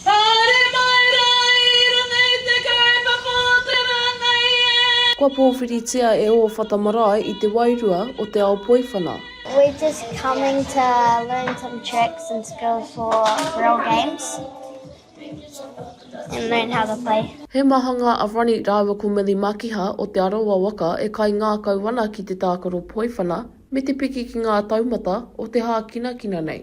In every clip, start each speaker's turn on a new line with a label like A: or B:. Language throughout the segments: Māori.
A: Haere mai rā i runga i te kaupapa o te rāngai e. Kua pōwhiritia e ō whata marae i te wairua o te ao poiwhana. We're just
B: coming to learn some tricks and skills for real games and learn how to play. He mahanga a
A: Ronnie rāua ko Milly Makiha o Te Arawa waka e kaingākau ana ki te tākaro poiwhana me te piki ki ngā taumata o te hākinakina nei.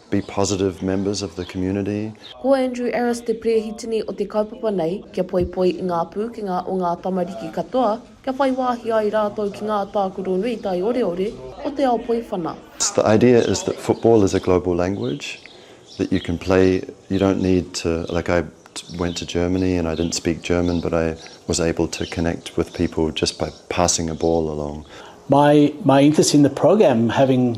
C: Be positive members of the community. Ko Andrew
A: Arras te Perehitini o te kaupapa nei, kia poipoi i ngā pūkenga o ngā tamariki katoa, kia whai wāhi ai rātou ki ngā tākaro nui taioreore o te ao poiwhana. The idea is
C: that football is a global language, that you can play, you don't need to, like I went to Germany and I didn't speak German but I was able to connect with people just by passing a ball along. My
D: interest in the program having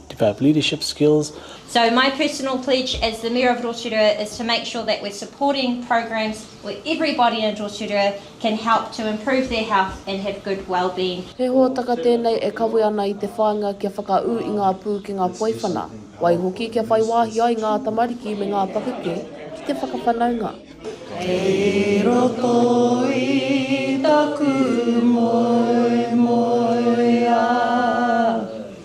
D: Develop leadership skills. So my personal
E: pledge as the Mayor of Rotorua is to make sure that we're supporting programs where everybody in Rotorua can help to improve their health and have good wellbeing. He hōtaka tēnei
A: e kawe ana i te whāinga kia whakaū i ngā pūkenga poiwhana, waihoki kia whai wāhi ai ngā tamariki me ngā pakeke ki te whakawhanaunga. Kei roto i taku moemoeā.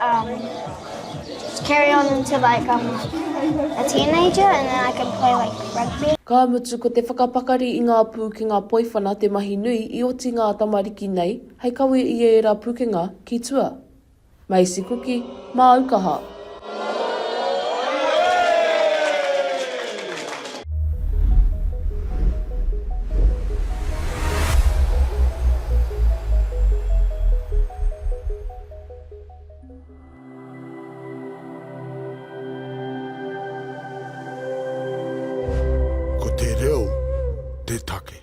B: Um, carry on until like I'm a teenager and then I can play like rugby. Ka mutu ko te
A: whakapakari i ngā pūkenga poiwhana te mahi nui i oti ngā tamariki nei hei kawe i ēra pukenga ki tua. Macy Kuki, Māukaha.
F: Ko te reo te take.